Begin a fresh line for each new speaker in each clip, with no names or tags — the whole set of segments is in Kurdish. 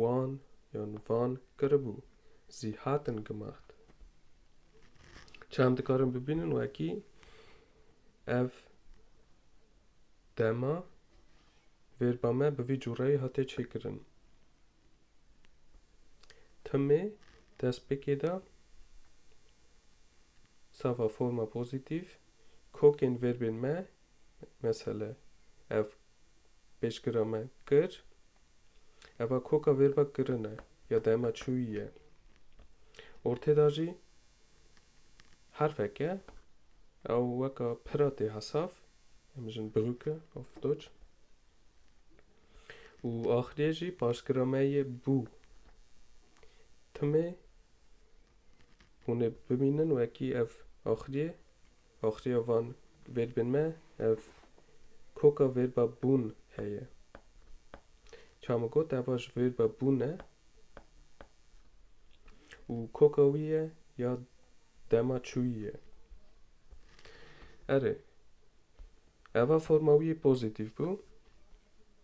wan yan van kiribû zî hatin gimaxt. Çem dikarin bibînin wekî ev dema vêrba me bi vî cûreyê hate çêkirin. Timê destpêkê de sava forma pozîtîv kokên vêrbên me Mesele ev pêşgira me kir, eva koka vêrva kirin e ya dema çûyî ye. Ortê de jî herfeke ew weka pira tê hesaf, em dijin Brücke auf Deutsch. Û axiriyê jî paşgira me yê bû. Timê hûn ê bibînin wekî ev axiriyê Axiya van vêrbên me ev koka vêrba bûn heye. Çawa min got eva ji vêrba bûn e û koka wî ye ya dema çûyî ye. Erê, eva forma wî pozîtîf bû.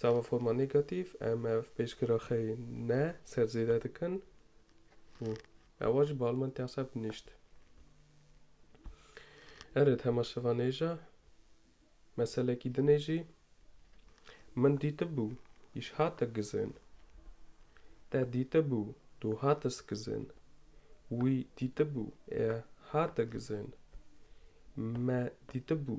Sava forma negatif em ev pêşgira xê ne ser zêde dikin û ewa ji bal min tê seb nîşt. Erê di hema şevan ê ja meselekî dinê jî min dîtibû îş hate gizên. Te dîtibû tu hate skizên. Wî dîtibû ê hate gizên. Me dîtibû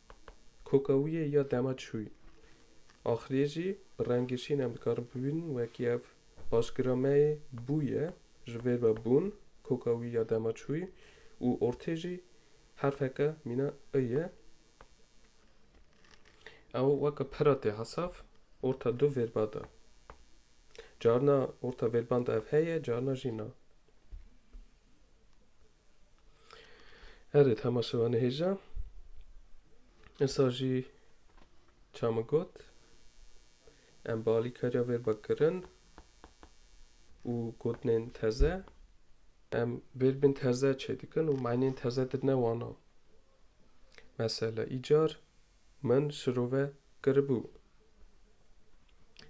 Koka wî yê ya dema çûyî. Axiriyê jî bi rengê şîn em dikarin bibînin wekî ev. Başgira me yê bû ye, ji vê ve bûn, koka wî ya dema çûyî û ortê jî herfeke mîna i ye. Ew weke pira tê hesav orta du vêrba de. Carina orta vêrban de ev heye, carina jî na. Erê tema şeva nihêja. Esa jî ça min got em bi alîkariya vê ba kirin û gotinên teze em bêrbin teze çêdikin û meynên teze dir ne wana. Mesele îcar Min şirove kiribû.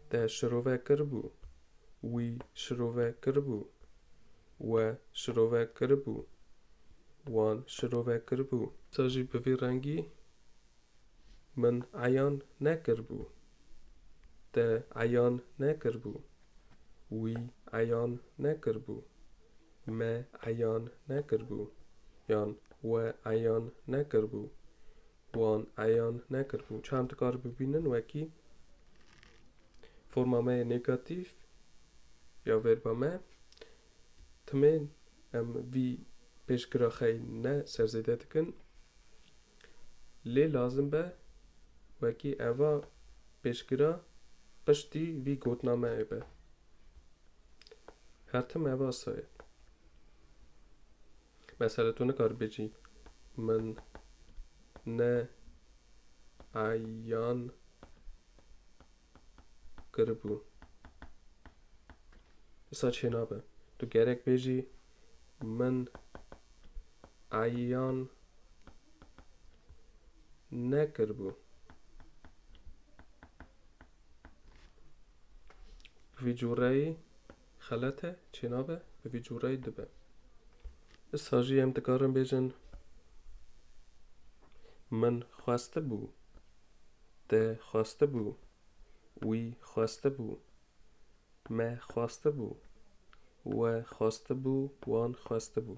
Te şirove kiribû. Wî şirove kiribû. We şirove kiribû. Wan şirove kiribû. Te jî bi vî rengî min eyan nekiribû. Te eyan nekiribû. Wî eyan nekiribû. Me eyan nekiribû. Yan we eyan nekiribû. Wan eyan nekiribû. Çend dikar bibînin wekî forma me yê negatîf ya verba me. Timên em vî pêşgira xey ne ser zêde dikin. Lê lazim be wekî eva pêşgira piştî vî gotina me ê be. Her tim eva saye. Mesela tu nikarî bêjî Min ne eyan kiribû. Disa çênabe. Tu gerek bêjî Min eyan nekiribû. Vî cûreyî Xelete çênabe bi vî cûreyê dibe. Issa jî em dikarin bêjin Min xwestibû, te xwestibû, wî xwestibû, me xwestibû, we xwestibû, wan xwestibû.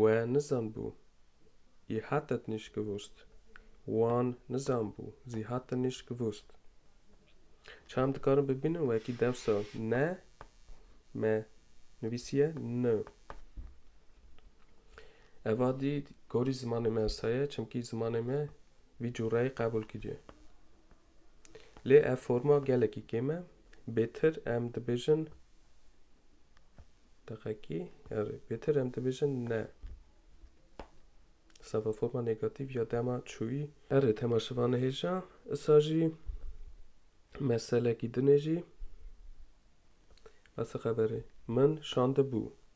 We nizanbû, yê hatet nîşkivûst. Wan nizanbû, zî hatin nîşkivûst. Ça em dikarin bibînin wekî dewsa ne me nivîsiye ni. Eva dî gorî zimanê me esa ye, çimkî zimanê me vî cureyê qebûl kiriye. Lê ev forma gelekî kêm e. Bêtir em dibêjin deqekî erê bêtir em dibêjin ne. Sava forma negatif ya dema çûyî. Erê tema şiva nihêja. Isa jî meselekî dinê jî. Asa xeberê min şandibû.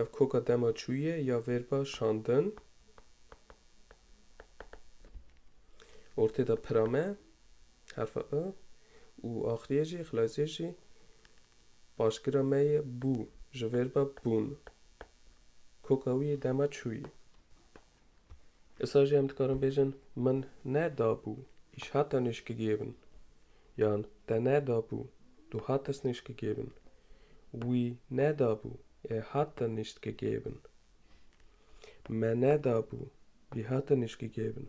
Ev koka dema çûyîyê ya vêrba şandin. Ortê de pira me, herfa i, û axirîyê jî, xilasîyê jî, paşgira me yê bû ji vêrba bûn. Koka wî yê dema çûyî. Issa jî em dikarin bêjin min ne dabû îş hat te nêşkigiyê bin yan te ne dabû tu hat dest nêşkigiyê bin, wî ne dabû ê hat te nêştkigiyê bin, me ne dabû bî hat te nêşkigiyê bin.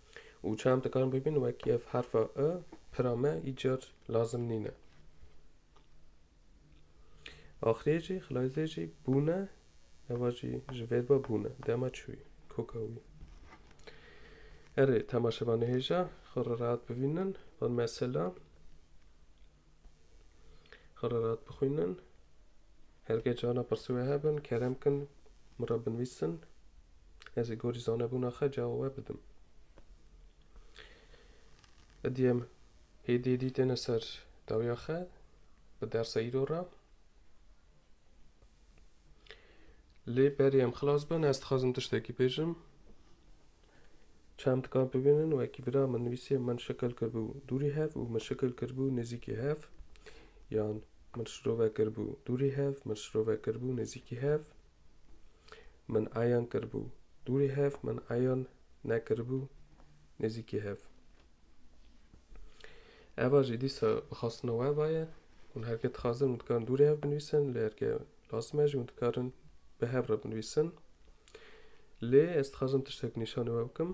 Û çem dikarin bibin wekî ev herfa i, pira me îcar lazim nîne. Axirê jî xilayzê jî bûne, eva jî ji vêrba bûne, dema çûyî, koka wî. Erê, temaşevanê hêja xwe re rehat bivînin, van mesela. Xererat bixwînin. Hergê cana pirsî wê hebin, kerem kin min re binivîsin. Ez ê gorî zanebûna xwe cawa we bidim. Êdî em hêdî hêdî têne ser dawiya xwe bi dersa îro re. Lê berê em xilas bin ez dixwazim tiştekî bêjim. Çem dikan bibînin wekî bira min nivîsiye min şikil kiribû dûrî hev û min şikil kiribû nêzîkî hev yan min şirove kiribû dûrî hev min şirove kiribû nêzîkî hev min eyan kiribû dûrî hev min eyan nekiribû nêzîkî hev Eva jî dîsa bixastina we vaye hûn herke dixwazin min dikarin dûrê hev binivîsin lê herke lazim e jî hûn dikarin bi hev re binivîsin Lê ez dixwazim tiştek nîşanê we bikim.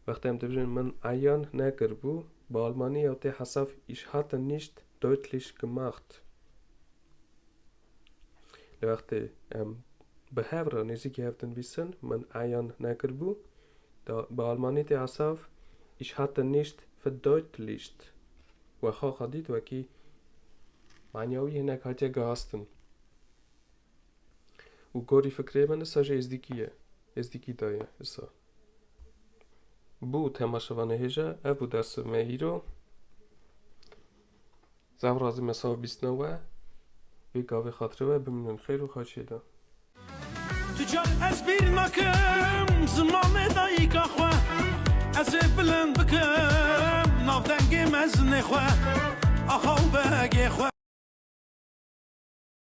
Wextê em dibijin min eyan nekiribû, bi almanî ya tê hesaf Ich hatte nicht deutlich gemacht. Li wextê em bi hev re nêzîkî hev dinivîsin min eyan nekiribû, bi almanî tê hesaf Ich hatte nicht verdeutlicht. Wexa xwe dît wekî manyawî hinek hatiye gihastin. Û korî fikrê min issa jî êzdîkî ye. Êzdîkî da ye issa. Bû tema şeva nehêja, ev bû dersi me îro. Zav razî me sawa bîst ne we. Vê gavê xatirê we bimînin xêr û xaçê de. Tu
car ez bîr nakim zimanê dayîka xwe. Ez ê bilind bikim navdengê mezinê xwe. Axa û begê xwe.